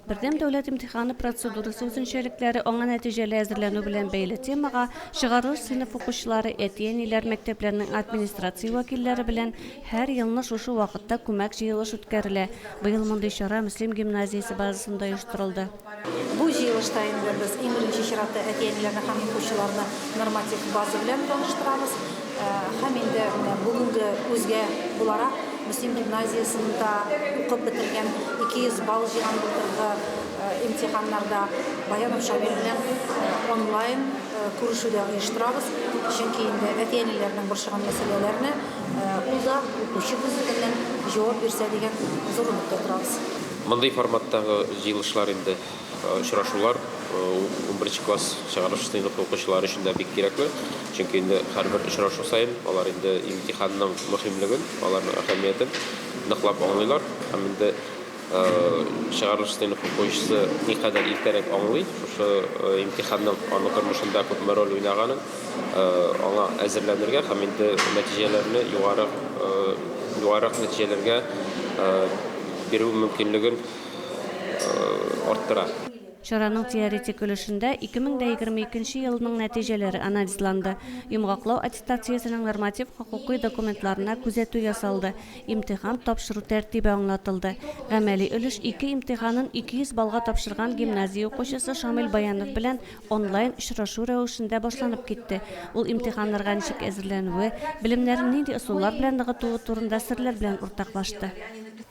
Бердәм дәүләт имтиханы процедурасы үзенчәлекләре аңа нәтиҗәле әзерләнү белән бәйле темага чыгарылыш сыйныф укучылары, әти-әниләр, мәктәпләрнең администрация вәкилләре белән һәр елны шушы вакытта күмәк җыелыш үткәрелә. Быел мондый чара Мөслим гимназиясе базасында оештырылды. Бу җыелышта инде без иң беренче чиратта әти-әниләрне һәм укучыларны норматив база белән таныштырабыз. Һәм инде менә бүгенге үзгә буларак, Мөслим гимназиясендә укып бетергән, 200 балл җыйган былтыргы имтиханнарда Баянов Шамил белән онлайн күрешү дә оештырабыз. Чөнки инде әти-әниләрнең борчыган мәсьәләләренә ул да укучы күзлегеннән җавап бирсә дигән зур өметтә торабыз. Мондый форматтагы җыелышлар инде Очрашулар унберенче класс чыгарылыш сыйныфы укучылары өчен дә бик кирәкле, чөнки инде һәрбер очрашу саен алар инде имтиханның мөһимлеген, аларның әһәмиятен ныклап аңлыйлар. Һәм инде чыгарылыш сыйныф укучысы никадәр иртәрәк аңлый шушы имтиханның аның тормышында күпме роль уйнаганын, аңа әзерләнергә һәм инде нәтиҗәләрне югарырак нәтиҗәләргә бирү мөмкинлеген арттыра. Чараның теоретик өлешендә 2022 елның нәтиҗәләре анализланды, йомгаклау аттестациясенең норматив-хокукый документларына күзәтү ясалды, имтихан тапшыру тәртибе аңлатылды. Гамәли өлеш ике имтиханын 200 баллга тапшырган гимназия укучысы Шамил Баянов белән онлайн очрашу рәвешендә башланып китте. Ул имтиханнарга ничек әзерләнүе, белемнәрен нинди ысуллар белән ныгытуы турында серләр белән уртаклашты.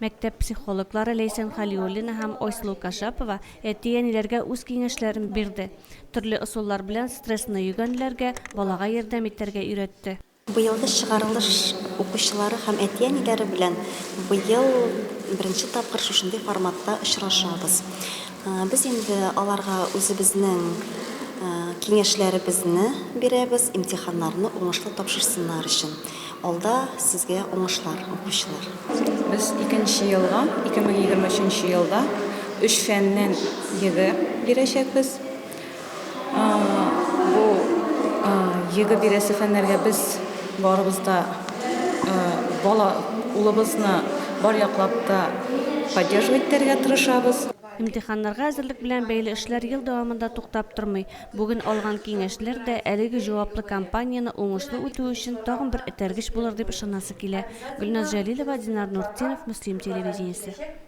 Мәктәп психологлары Ләйсән Хәлиуллина һәм Ойслу Кашапова әти-әниләргә үз киңәшләрен бирде, төрле ысуллар белән стрессны йөгәнләргә, балага ярдәм итәргә өйрәтте. Быелгы чыгарылыш укучылары һәм әти-әниләре белән быел беренче тапкыр шушындый форматта очрашабыз. Без инде аларга үзебезнең киңәшләребезне бирәбез, имтиханнарны уңышлы тапшырсыннар өчен. Алда сезгә уңышлар, укучылар! Без икенче елга, 2023 елда, өч фәннән ЕГЭ бирәчәкбез. Бу ЕГЭ бирәсе фәннәргә без барыбыз да бала, улыбызны бар яклап та поддерживать итәргә тырышабыз. Имтиханнарга әзерлек белән бәйле эшләр ел дәвамында туктап тормый. Бүген алган киңәшләр дә әлеге җаваплы кампанияне уңышлы үтү өчен тагын бер этәргеч булыр дип ышанасы килә, Гөлназ Җәлилова, Динар Нуртдинов, Мөслим телевидениесе.